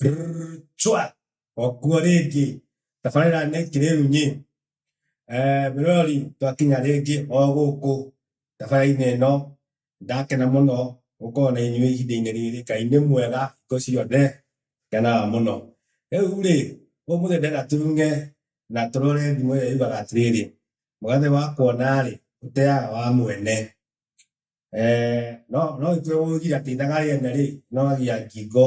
rchwa okuo rĩngĩ tabarĩra nĩ kĩrĩrunyĩ eh, mĩrori twakinya rĩngĩ o gũkũ tabarĩra-inĩ ĩno ndakena mũno gũkorwo na inyuĩ ihinda-inĩ rĩrĩ ngai nĩ mwega hingo ciothe ngenaga mũno rĩu rĩ ũmũthĩ ndĩna turunge na tũrore thimũ ĩrĩa yugaga atĩrĩrĩ mũgathĩ wa kuona rĩ ũteaga wa mwene Eh, no no itwe wogira tindaga rene ri no agia ngingo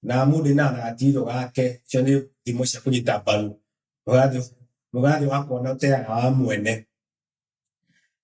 na mundu na gatiro gake cio ni thimo cia kunyita mbaru mugathi mugathi wakona uteaga wa mwene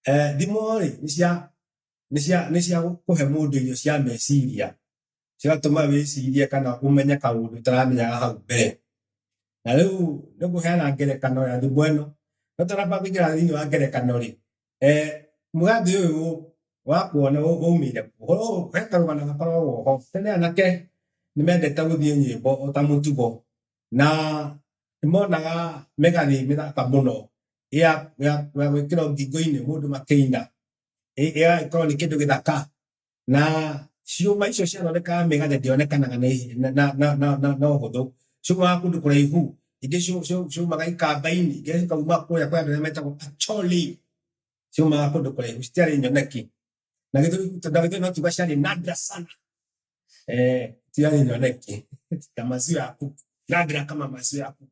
eh thimo ri ni cia ni cia ni cia kuhe mundu irio cia meciria ciratũma wĩcirie kana ũmenye kaũndũ ũtaramenyaga hau mbere na rĩu nĩ kũheana ngerekano ya thimũ ĩno no tũramba kũingĩra thĩinĩ wa ngerekano rĩ eh, mũgathĩ ũyũ wa kuona ũ- ũmĩire kũ? ũhoro ũyũ he karũgano gakoragwo ho tene anake nĩ mendete gũthiĩ nyĩmbo o ta mũtugo na nĩmonaga mĩgathĩ mĩthaka mũno ya ya- ya gwĩkĩrwo ngingo-inĩ mũndũ makĩina ĩ- ĩgagĩkorwo nĩ kĩndũ gĩthaka Na ciũma icio ciathondekaga mĩgathĩ ndĩonekanaga na ihi- na- na- na- na- na- na ũhũthũ. Ciumaga kũndũ kũraihu. Ingĩ ciu- ciu- ciumaga ikamba-inĩ, ingĩ cikauma kũrĩa kwĩ andũ arĩa metagwo Acholi. Ciumaga kũndũ kũraihu, citiarĩ nyoneki. Na gĩthũri na gĩthũri no kiuga ciarĩ nadra sana. Eh, citiarĩ nyoneki. Ta maziwa ya kuku. Nadra kama maziwa ya kuku.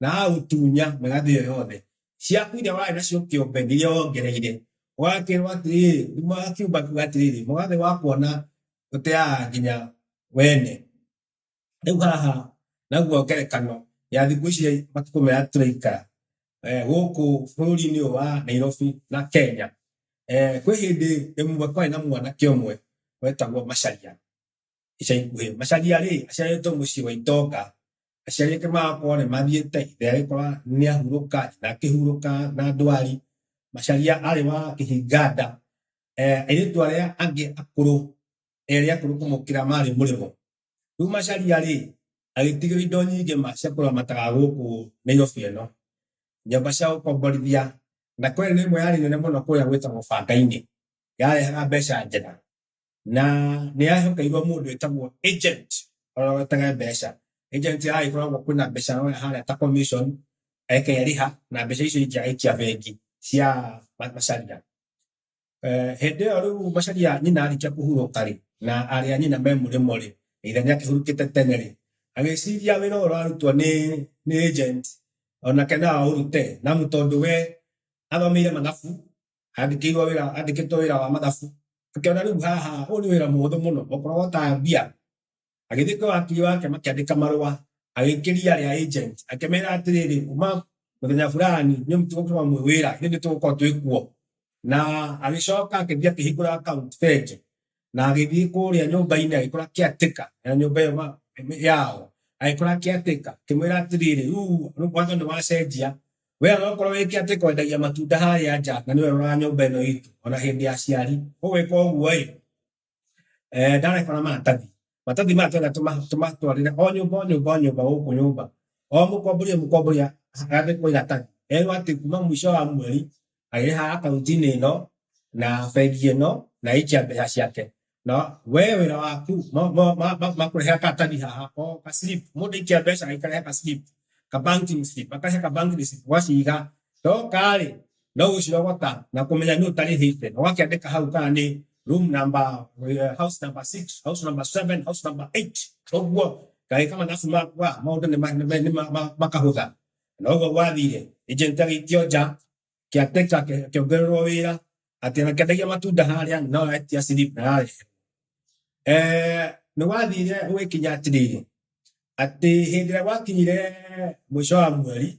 na agagũtunya mĩgathĩ ĩyo yothe ciaku iria warĩ nacio kĩũmbe iria wongereire ũgakĩrwo atĩrĩrĩ akiumba kiuga atĩrĩrĩ mũgathĩ wakuona ũteaga nginya wene rĩu haha naguo ngerekano ya thikũ ici matukũ maya tũraikara eh, gũkũ bũrũri-inĩ ũyũ wa Nairobi na Kenya eh, kwĩ hĩndĩ ĩmwe kwarĩ na mwanake ũmwe wetagwo Macharia ica ikuhĩ macaria-rĩ aciarĩtwo mũciĩ wa itonga aciari ake magakorwo nĩ mathiĩte ithe agĩkora nĩ ahurũka na akĩhurũka na ndwari macaria arĩ wa kĩhinganda eh, airĩtu arĩa angĩ akũrũ erĩ akũrũ kũmũkĩra marĩ mũrĩmo rĩu macaria-rĩ agĩtigĩra indo nyingĩ ma cia kũramataga gũkũ nĩ nyobi ĩno nyũmba cia gũkomborithia na kwene nĩ ĩmwe yarĩ nene mũno kũrĩa gwĩtagwo banga-inĩ yarehaga mbeca njega na nä yahekeirwo må ndå ätagwo agent å wetage mbeca agent ya ikoragwo kwä na mbeca roya harä ta commission ekerä ha na mbeca icio ingä agaikia bengi cia ma- macaria Eh, hĩndĩ ĩyo rĩu macaria nyina arĩkia kũhurũka rĩ na arĩ a nyina me mũrĩmo rĩ na ithe nĩ akĩhurũkĩte tene rĩ agĩciria wĩra ũyũ ũrarutwo nĩ nĩ agent onake no aũrute namu tondũ we athomeire mathabu andĩkĩirwo wĩra andĩkĩtwo wĩra wa mathabu akĩona rĩu haha ũyũ nĩ wĩra mũhũthũ mũno okorwo wotaga mbia agĩthiĩ kwĩ wakiri wake makĩandĩka marũa agĩkĩria rĩa agent akĩmera atĩrĩrĩ kuma mũthenya fulani nĩ mũtigũkorwo mwĩ wĩra ithuĩ nĩ tũgũkorwo twĩ kuo na agĩcoka akĩthiĩ akĩhingũra account bengi na agĩthiĩ kũrĩa nyũmba-inĩ agĩkora kĩatĩka ya nyũmba ĩyo ma- yao agĩkora kĩatĩka kĩmwĩra atĩrĩrĩ rĩu watho nĩ wacenjia we onokorwo wĩ kĩatĩka wendagia matunda harĩa nja na nĩwe ũroraga nyũmba ĩno itũ ona hĩndĩ ya ciari ũgwĩka ũguo-ĩ eh, ndareka na maratathi Maratathi maya twenda tũma- tũmatwarĩre o nyũmba o nyũmba o nyũmba gũkũ nyũmba o mũkombori o mũkombori a- andĩkwo iratathi erwo atĩ kuma mũico wa mweri arĩha akaunti-inĩ ĩno na bengi ĩno na aikia mbeca ciake na we wĩra waku ma- ma- ma- ma- makũrehera karatathi haha o ka slip mũndũ aikia mbeca agĩkarehe ka slip ka banking slip akarehe ka banking slip ũgaciga ndoka rĩ no ũcio gwaka na kũmenya nĩ ũtarĩhĩte na wakĩandĩka hau kana nĩ room number, uh, house number 6 house number 7 house number 8 ũguo gagĩka mathabu makwa maũndũ nĩ ma- nĩ ma- nĩ ma- ma- makahũtha na ũguo gwathire agent agĩikio nja kĩateka kĩongererwo wĩra atĩ na kĩendagia matunda harĩa no etia slip na yarĩ eh nĩ wathire ũgĩkinya atĩrĩrĩ atĩ hĩndĩ ĩrĩa gwakinyire mũico wa mweri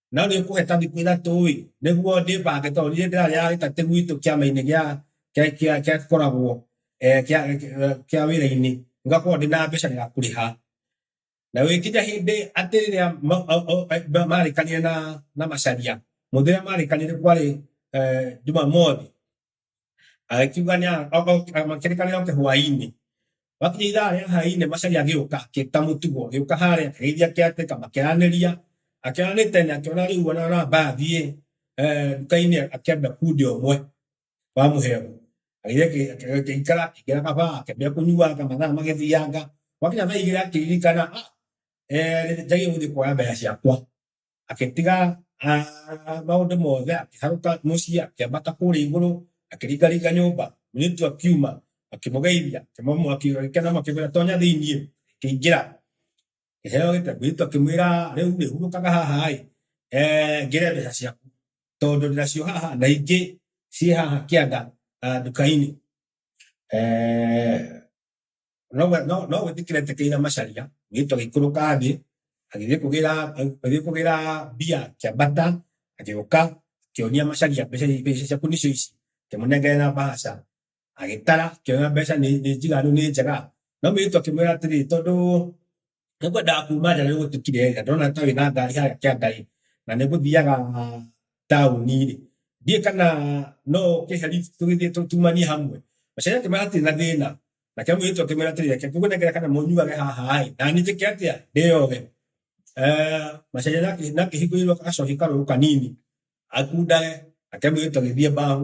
No nĩ ũkũheta thikũ ithatũ-ĩ, nĩguo ndĩbange tondũ niĩ ndĩrarĩaga gĩkatĩ gwitũ kĩama-inĩ gĩa kĩa- kĩa- kĩa tũkoragwo eh, kĩa- kĩa- kĩa wĩra-inĩ, ngakorwo ndĩ na mbeca ya kũrĩha. Na gũgĩkinya hĩndĩ atĩ rĩrĩa ma- o- o- eh, ma- marĩkanire na na Macharia, mũthenya ũrĩa marĩkanire kwarĩ eh, Jumamothi, Agĩkiuga nĩ a- o- o- a- makĩrĩkanĩra oke hwaĩ-inĩ. Gwakinya ithaa rĩa hwaĩ-inĩ Macari agĩũka akĩruta mũtugo. Agĩũka harĩa akĩgeithia caretaker makĩaranĩria. Akĩaranĩte nĩ akĩona rĩu ona ona amba athiĩ eh, nduka-inĩ akĩambia kundia ũmwe wa mũhero. Agĩthiĩ akĩ- akĩ- akĩikara akĩingĩra kaba akĩambia kũnyuanga mathaa magĩthianga. Gwakinya thaa igĩrĩ akĩririkana ah, eh, njagĩrĩirwo gũthiĩ kuoya mbeca ciakwa. agĩtiga ah, maũndũ mothe akĩharũka mũciĩ akĩambata kũrĩa igũrũ akĩringaringa nyũmba mũirĩtu akiuma akĩmũgeithia akĩmũmũ akĩgĩkena makĩmwĩra tonya thĩiniĩ akĩingĩra kĩheo gĩtego mũirĩtu akĩmwĩra rĩu rĩ hurũkaga haha ĩ eh, ngĩre mbeca ciaku tondũ ndĩracio haha na ingĩ ciĩ haha kĩanda ah, nduka-inĩ Eh, no no no gwĩtĩkĩra etekeire macaria agĩtwo agĩikũrũka thĩ agĩthiĩ kũgĩra agĩthiĩ kũgĩra mbia akĩambata agĩũka akĩonia macaria mbeca mbeca ciaku nĩcio ici akĩmũnengerera mbaca agĩtara akĩona mbeca nĩ nĩ njiganu nĩ njega no mũirĩtu akĩmwĩra atĩrĩ tondũ Nĩkwendaga kuuma nja nĩgũtukire nja ndona ta wĩna ngari harĩa kĩangainĩ na nĩngũthiaga taũni-rĩ, ndiũĩ kana no ũkĩhe lift tũgĩthiĩ tũtumanie hamwe. Mũcere akĩmwĩra hatirĩ na thĩna, nake mũirĩtu akĩmwĩra atĩrĩ reke ngũnengere kana mũnyuage haha-ĩ, na niĩ njĩke atĩa? Ndĩyoge? Mũcere nĩakĩhingũrĩirwo gacũhĩ karũrũ kanini akundage, nake mũirĩtu agĩthiĩ mbaũ.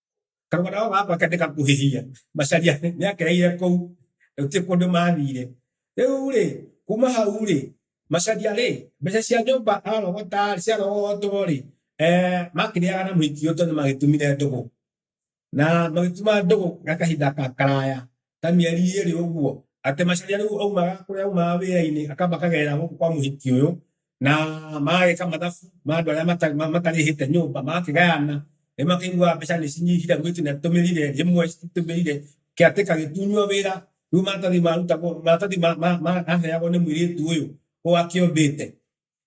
Karugana gaka gakwa kende gakuhĩhia macaria nĩakereire kũu gũtirĩ kũndũ mathire rĩu-rĩ kuma hau-rĩ macaria-rĩ mbeca cia nyũmba arogota ciarogotwo-rĩ eh, makĩrĩaga na mũhiki ũyũ tondũ nĩmagĩtumire ndũgũ na magĩtuma ndũgũ gwa kahinda ga karaya ta mĩeri ĩrĩ ũguo, atĩ Macharia rĩu aumaga kũrĩa aumaga wĩra-inĩ akamba akagerera gũkũ kwa mũhiki ũyũ, na magagĩka mathabu ma andũ arĩa mata- ma- matarĩhĩte nyũmba, magakĩgayana, nĩ makĩiguaga mbeca nĩ cinyihire, augĩte nĩ atũmĩrire ĩmwe cititũmĩrire, kĩatĩka gĩtunywo wĩra, rĩu maratathi marutagwo, maratathi ma- ma- ma- maheagwo nĩ mũirĩtu ũyũ, ũyũ akĩũmbĩte.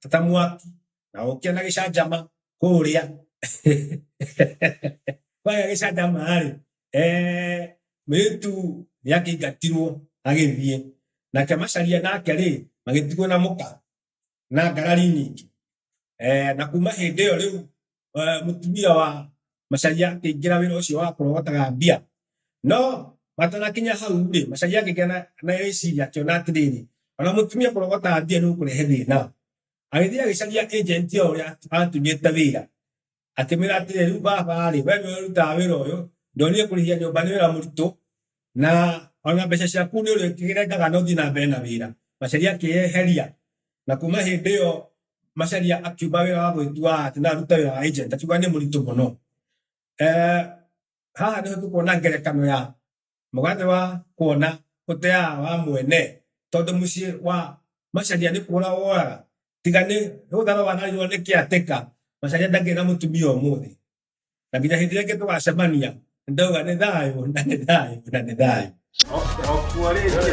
ta- ta mwaki na gũkĩa na gĩcanjama kũrĩa kwagĩa gĩcanjama rĩ eh, mwĩtu nĩ akĩingatirwo agĩthiĩ nake macaria nake rĩ magĩtigwo na mũka na ngarari nyingĩ eh, na kuma hĩndĩ ĩyo rĩu eh, mũtumia wa Macharia akĩingĩra wĩra ũcio wa kũrogotaga mbia. No matanakinya hau rĩ, Macharia akĩgĩa na na rĩciria akĩona atĩrĩrĩ, ona mũtumia kũrogotaga mbia nĩ ũkũrehe thĩna. Agĩthiĩ agĩcaria agent ĩyo ũrĩa atũnyĩte wĩra akĩmwĩra atĩrĩrĩ, rĩu baba rĩ, we nĩwe ũrutaga wĩra ũyũ, ndonire kũrĩhia nyũmba nĩ wĩra mũritũ, na ona mbeca ciaku nä å rä kä rengaga no thiä na mbere na wä ra macaria akä eheria na kuma hä ndä ä yo macaria akiuga wä ra wa gwä tua atä no arute wä ra wa agent akiuga nä må ritå må no Eh, haha nä tå kuona ngerekano ya mũgathĩ wa kuona ũteaga wa mwene tondũ mũciĩ wa macaria nĩ kũra woraga tiga nĩ ũthara wanarirwo nĩ kĩatĩka macaria ndagĩrĩ na mũtumia ũmũthĩ na nginya hindi ringi tugacemania ndauga ni thayo na ni thayo na ni thayo Okwo rĩngĩ.